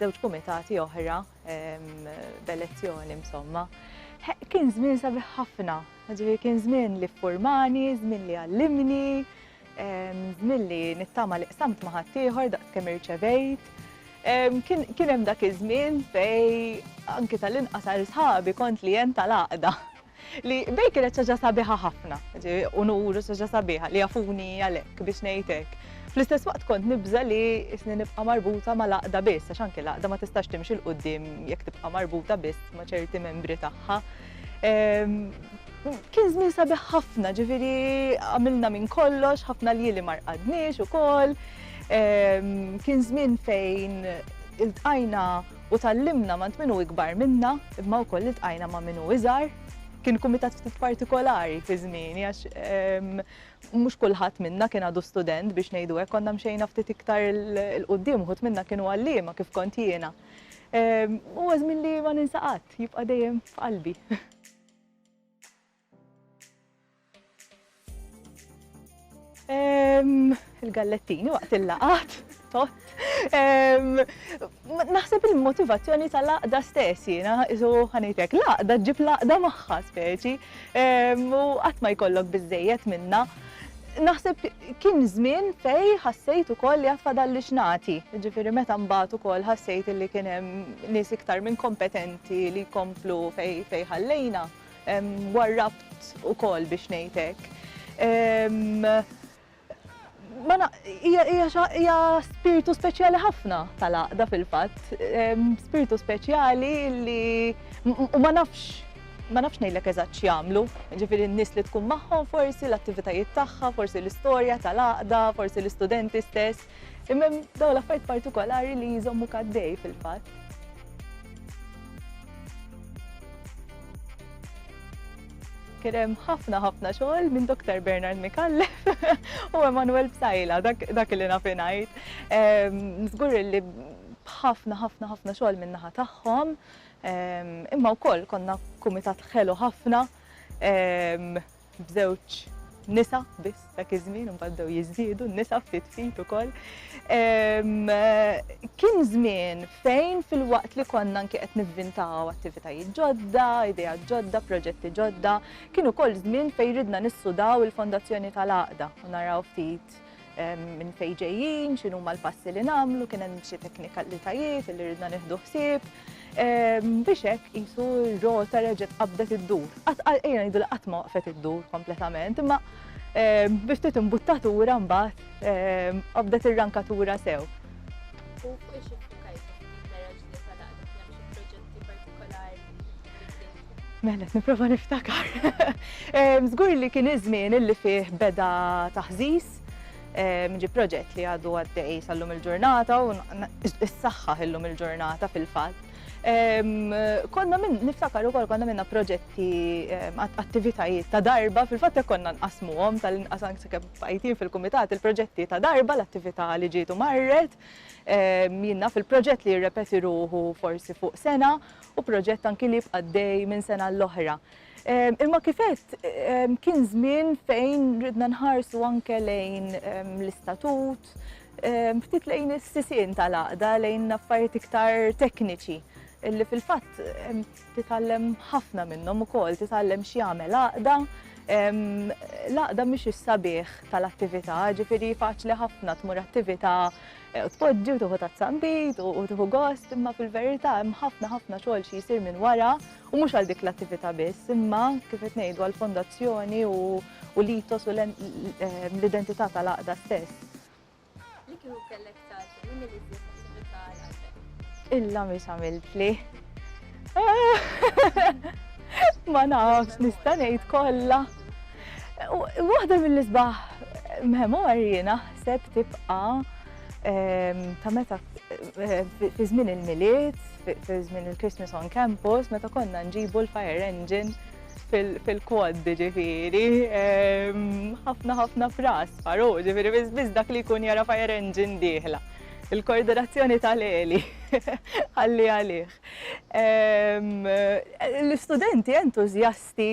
żewġ kumitati oħra b'elezzjoni insomma. Kien żmien sabiħ ħafna, ġifieri kien żmien li ffurmani, żmien li għallimni, żmien li nittama li qsamt ma' ħaddieħor daqs kemm irċevejt. Kien hemm dak iż-żmien fej anki tal-inqas għal sħabi kont li jen tal-għaqda. Li bejk kienet xi ħaġa sabiħa ħafna, unur u xi ħaġa sabiħa li jafuni għalhekk biex ngħid hekk. Fl-istess waqt kont nibża' li isni nibqa' marbuta mal-għaqda biss għax anke l-għaqda ma tistax timxi 'l quddiem jekk tibqa' marbuta biss ma' ċerti membri tagħha. Kien żmien sabiħ ħafna, ġifieri għamilna minn kollox, ħafna ljieli ma rqadniex ukoll. Kien żmien fejn iltqajna U tgħallimna m'għand min hu ikbar minna, imma wkoll iltqajna ma' min hu iżgħar. Kien kumitat ftit partikolari fi żmieni għax mhux kulħadd minna kien għadu student biex ngħidu hekk, konna mxejna ftit iktar 'l quddiem, uħud minna kienu għalliema kif kont jiena. Huwa żmien li ma ninsa qatt, jibqa' dejjem f'qalbi. Il-gallettini waqt il-laqat, tot. Naħseb il-motivazzjoni tal-laqda stess jiena, isu ħanejtek, laqda ġib laqda magħha speċi, u qatt ma jkollok biżejjed minna. Naħseb kien żmien fej ħassejt ukoll li għad fadalli x'nagħti, ġifieri meta mbagħad ukoll ħassejt li kien hemm nies iktar minn kompetenti li jkomplu fej ħallejna. warrabt ukoll biex ngħid hekk. Hija spirtu speċjali ħafna tal-għaqda fil-fatt, spirtu speċjali li u ma nafx ma nafx ngħidlek eżatt x'jagħmlu, ġifieri n-nies li tkun magħhom forsi l-attivitajiet tagħha, forsi l-istorja tal-għaqda, forsi l-istudenti stess, imma dawn l-affarijiet partikolari li jżommu kaddej fil-fatt. kien hemm ħafna ħafna xogħol minn Dr. Bernard Mikallef u Emanuel Bsajla, dak li naf ngħid. Ehm, żgur li ħafna ħafna ħafna xogħol minn naħa tagħhom, ehm, imma wkoll konna kumitat ħelu ħafna ehm, b'żewġ nisa biss dak iż-żmien imbagħad bdew jiżdiedu n-nisa ftit ftit ukoll. Kien żmien fejn fil-waqt li konna anke qed nivvintaw attivitajiet ġodda, idea ġodda, proġetti ġodda, kien ukoll żmien fejn ridna nissudaw il-fondazzjoni tal-għaqda u naraw ftit minn fejn ġejjin, x'inhuma l-passi li nagħmlu, kien hemm xi teknikalitajiet li ridna nieħdu ħsieb. Biex hekk qisu r-rota reġgħet qabdet iddur. Qatt ejja ngħidu li qatt ma waqfet iddur kompletament, imma biex ftit imbuttatura mbagħad qabdet ir-rankatura sew. Mela, niprofa niftakar. Zgur li kien iż-żmien illi fih beda taħżiż, ġi proġett li għadu għaddej sal-lum il-ġurnata u s-saxħa illum il-ġurnata fil-fat. Konna minn, niftakar ukoll konna minna proġetti, attivitajiet ta' darba, fil-fatt jekk konna nqasmuhom tal-inqas anke kemm fajtin fil-kumitat il-proġetti ta' darba l-attività li ġietu marret, minna fil-proġett li jirrepeti ruħu forsi fuq sena, u proġett anki li jibqa' għaddej minn sena għal oħra. Imma kif għedt kien żmien fejn ridna nħarsu anke lejn l-istatut, ftit lejn is-sisien tal-għaqda lejn affarijiet iktar tekniċi illi fil-fatt titgħallem ħafna minnhom ukoll, titgħallem x'jagħmel għaqda. L-għaqda mhix is-sabiħ tal-attività, ġifieri faċli ħafna tmur attività U tpoġġi u tieħu tazza nbid u tieħu gost, imma fil-verità hemm ħafna ħafna xogħol xi jsir minn wara u mhux għal dik l-attività biss, imma kif qed ngħidu għall-fondazzjoni u l-ethos u l-identità tal-għaqda stess. Li kieku kellek tgħażel, liema l-iżjed attività għal qalbek? Il-lamis għamiltli. Ma nafx nista' ngħid kollha. Waħda mill-isbaħ memorji naħseb tibqa' ehm, ta' meta eh, fi żmien il-miliet, fi żmien il-Christmas on campus, meta konna nġibu l-fire engine fil-kwad ġifiri, ħafna ħafna fras, faru, ġifiri, biz dak li kun jara fire engine diħla. Il-koordinazzjoni tal-eli, għalli għalih. L-istudenti entużjasti,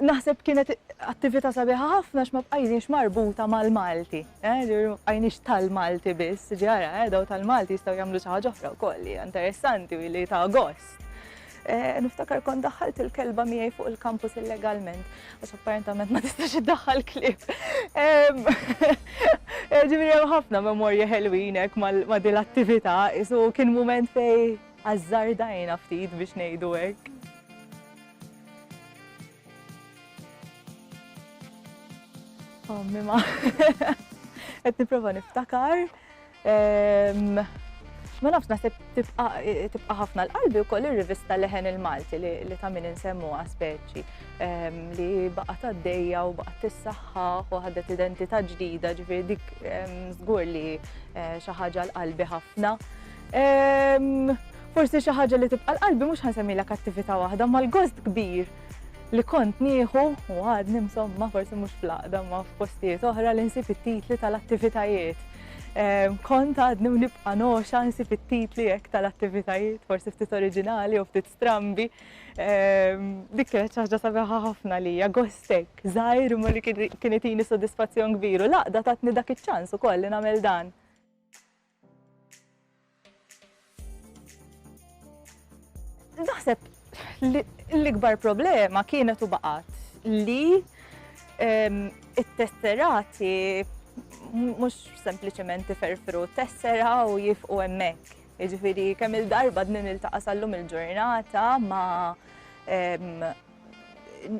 naħseb kienet attività sabiħa ħafna għax ma bqajniex marbuta mal-Malti, ma bqajniex tal-Malti biss, ġieli ara, dawn tal-Malti jistgħu jagħmlu xi ħaġa oħra wkoll li hija interessanti u li tagħha gost. Niftakar kont daħħalt il-kelba miegħi fuq il-kampus illegalment. Għax apparentament ma tistax iddaħħal klieb. Ġifieri hemm ħafna memorji ħelwin hekk ma' din l-attività, isu kien mument fej azzardajna ftit biex ngħidu hekk. Ommi ma. Qed nipprova niftakar. Ehm, ma nafx naħseb tibqa' ħafna l-qalbi wkoll ir-rivista Leħen il-Malti li ta' min insemmuha speċi ehm, li baqgħet għaddejja u baqgħet tissaħħaħ u ħadet identità ġdida ġifieri dik ehm, żgur li eh, xi ħaġa l-qalbi ħafna. Forsi xi ħaġa li tibqa' l-qalbi mhux ħansemmilha kattività waħda mal-gost kbir li kont nieħu u għadni insomma forsi mhux fl-aqda ma f'postijiet oħra li nsib it-titli tal-attivitajiet Kont għadni u nibqa' noxa nsib it-titli hekk tal-attivitajiet, forsi ftit oriġinali u ftit strambi. Dik kienet xi ħaġa sabiħa ħafna lija, gostek, żgħir imma li kien itini sodisfazzjon kbir u l-għaqda tatni dak iċ-ċans ukoll li nagħmel dan. Naħseb l-ikbar problema kienet u baqat li ehm, it-tesserati mhux sempliċement iferfru tessera u jifqu hemmhekk. Jiġifieri kemm il-darba din il-taqa' sallum il-ġurnata ma' ehm,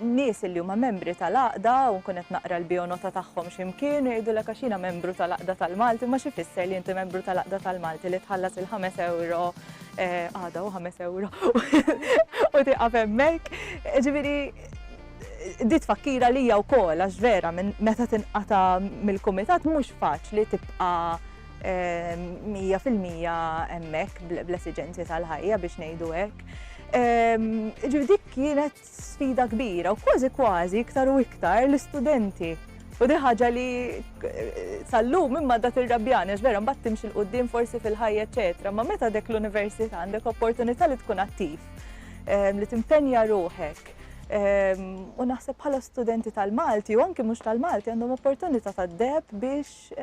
nies illi huma membri tal-għaqda u nkun qed naqra l-bionota tagħhom xi mkien u jgħidulek għax jiena membru tal-għaqda tal-Malti, imma xi jfisser li inti membru tal-għaqda tal-Malti li tħallas il-ħames ewro eh, għada u ħames ewro u tieqaf hemmhekk. Ġifieri dit fakkira li hija wkoll għax vera minn meta tinqata mill-kumitat mhux faċli tibqa' eh, mija fil-mija hemmhekk bl-esiġenzi tal-ħajja biex ngħidu hekk. Ehm, ġifieri dik kienet sfida kbira u kważi kważi iktar u iktar l-istudenti. U di ħaġa li eh, sallum imma dak il-rabjani, għax vera mbagħad timx il-qudiem forsi fil-ħajja eċetera, ma meta dek l-università għandek opportunità li tkun attiv, ehm, li timpenja ruħek. Ehm, u naħseb bħala studenti tal-Malti u anki mhux tal-Malti għandhom opportunità tad-deb biex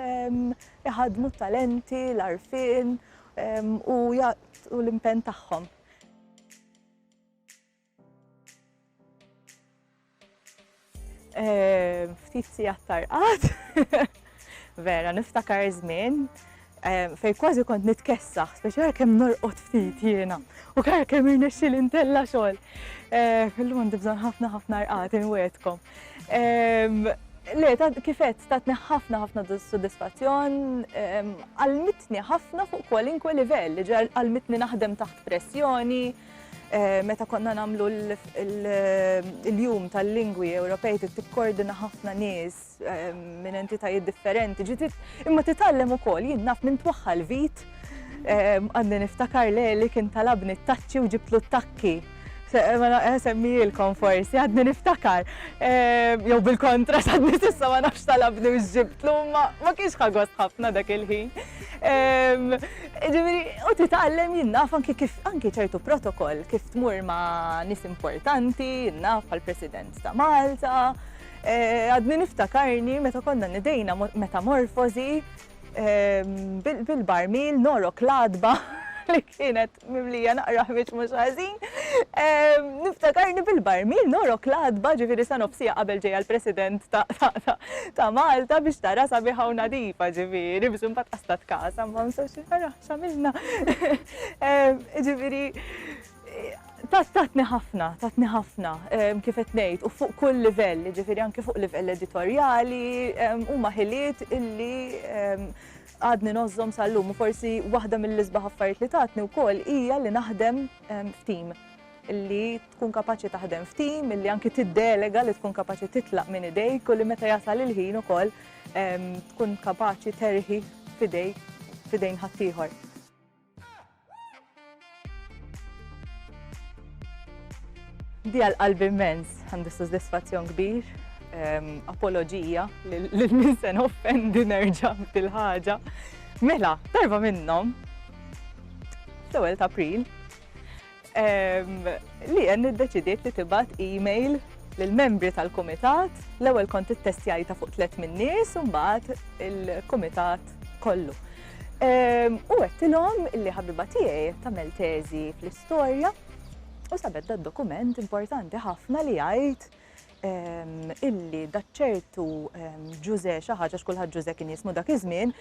iħadmu talenti, l-arfin u jagħtu l-impenn tagħhom. Ftit sigħat tarqad, vera niftakar żmien fej kważi kont nitkessaħ, speċjal kemm norqod ftit jiena u kar kemm irnexxi l-intella xogħol. Illum għandi bżonn ħafna ħafna rqat inwedkom. Le, kifet, tatni ħafna ħafna soddisfazzjon, għalmitni ħafna fuq kwalinkwe livell, għalmitni naħdem taħt pressjoni, eh, meta konna namlu l-jum tal-lingwi Ewropej tikkordina ħafna nies eh, minn entitajiet differenti, ġitit imma titallem ukoll jien naf minn twaħħal vit eh, għadni niftakar li kien talabni t-taċċi u ġibtlu t-takki. Ma naqqa semmijilkom forsi, għadni niftakar. Jow bil-kontra, sadni sissa ma nafx talabni u ġibtlu, ma kienx ħagos ħafna dak il-ħin. Ġimri, u titgħallem jinnaf anki kif anki ċertu protokoll kif tmur ma nis importanti, jinnaf għal-President ta' Malta. Għadni niftakarni meta konna nidejna metamorfozi bil-barmil norok l-għatba li kienet mimlija naqra ħmiġ mhux ħażin. Niftakarni bil-barmil norok l-għatba ġifieri sa nofsija qabel ġejja l-President ta' Malta biex tara sabiħa u nadifa ġifieri biex imbagħad qastat kasa ma nsax naraha x'għamilna. Ġifieri Tatni ħafna, tatni ħafna, kif qed ngħid, u fuq kull livell, jiġifieri anke fuq livell editorjali, huma ħiliet illi għadni nogħożhom sal-lum u forsi waħda mill-isbaħ affarijiet li tatni wkoll hija li naħdem f'tim li tkun kapaċi taħdem f'tim, li anki tiddelega li tkun kapaċi titlaq minn idejk u li meta jasal il-ħin ukoll tkun kapaċi terħi f'idejk f'idejn ħaddieħor. Dija l-qalb immens, għandu soddisfazzjon kbir, ehm, apologija lil min se offendi nerġa' bil-ħaġa. Mela, darba minnhom, l-ewwel ta' April, Leanne iddeċidiet li tibgħat email lill-membri tal-kumitat, l-ewwel kont ittestjajta fuq tliet min-nies u mbagħad il-kumitat kollu. Ehm, u għettilom li ħabiba tiegħi tagħmel teżi fl-istorja u sabet da dokument importanti ħafna li jgħid ehm, illi daċċertu ehm, ġuze xaħġa, xkulħat ġuze kien jismu dak iż-żmien,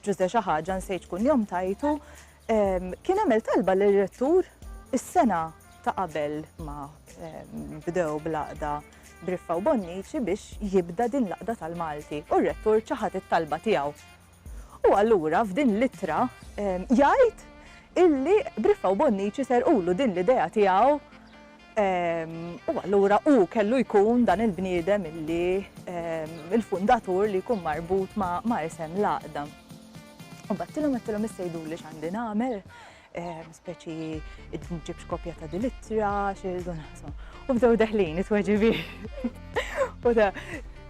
ġuze xaħġa nsejt kun jom tajtu, Kien għamel talba lir-rettur is-sena ta' qabel ma bdew bl-għaqda Briffa u Bonnici biex jibda din l-għaqda tal-Malti u r-rettur ċaħad it-talba tiegħu. U allura f'din l-ittra jgħid illi Briffa u Bonnici serqulu din l-idea tiegħu U allura hu kellu jkun dan il-bniedem illi il-fundatur li jkun marbut ma' isem l-għaqda. U battilhom għattilhom issejdu li x'għandi nagħmel, speċi ġibx kopja ta' dil-ittra, xi naħsma. U bdew deħlin it-tweġibi. U da,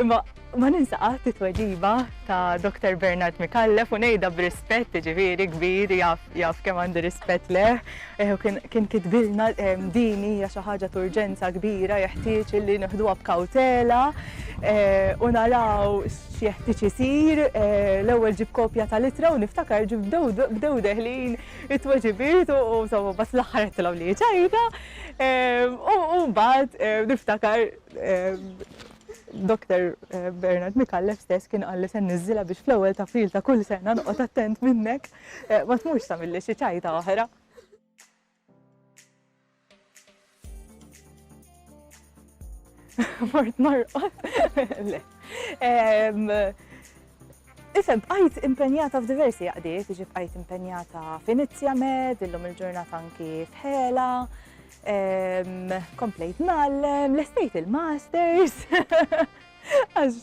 imma Ma ninsa qatt it-tweġiba ta' Doktor Bernard Micallef u ngħidha b'rispett jiġifieri kbir jaf jaf kemm għandi rispett lejh. Eh, u kien kien kitbilna eh, din hija xi ħaġa t'urġenza kbira jeħtieġ li nieħduha b'kawtela eh, u naraw x'jeħtieġ isir. eh, L-ewwel ġib kopja tal-ittra u niftakar ġib bdew- bdew deħlin it-tweġibiet u u insomma bas l-aħħar għedtilhom li ċajta. eh, U u mbagħad eh, niftakar eh, Doktor Bernard Micallef stess kien qal li se nniżżilha biex fl-ewwel ta' April ta' kull sena noqgħod attent minnek eh, ma tmurx tagħmilli xi ċajta oħra. mort narqod. Isem, bqajt impenjata f'diversi jaqdiet, iġi bqajt impenjata f'Inizja Med, illum il-ġurnata anki f'Hela, Komplejt nallem, lestejt il-masters. Għax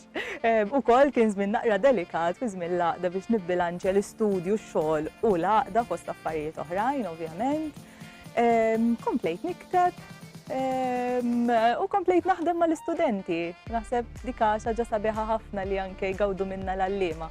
u kol kien żmien naqra delikat fi żmien laqda biex nibbilanċja l-istudju, x-xogħol u laqda fost affarijiet oħrajn, ovvjament. Komplejt nikteb u komplejt naħdem mal-istudenti. Naħseb dika xaġa sabiħa ħafna li anke jgawdu minna l-allima.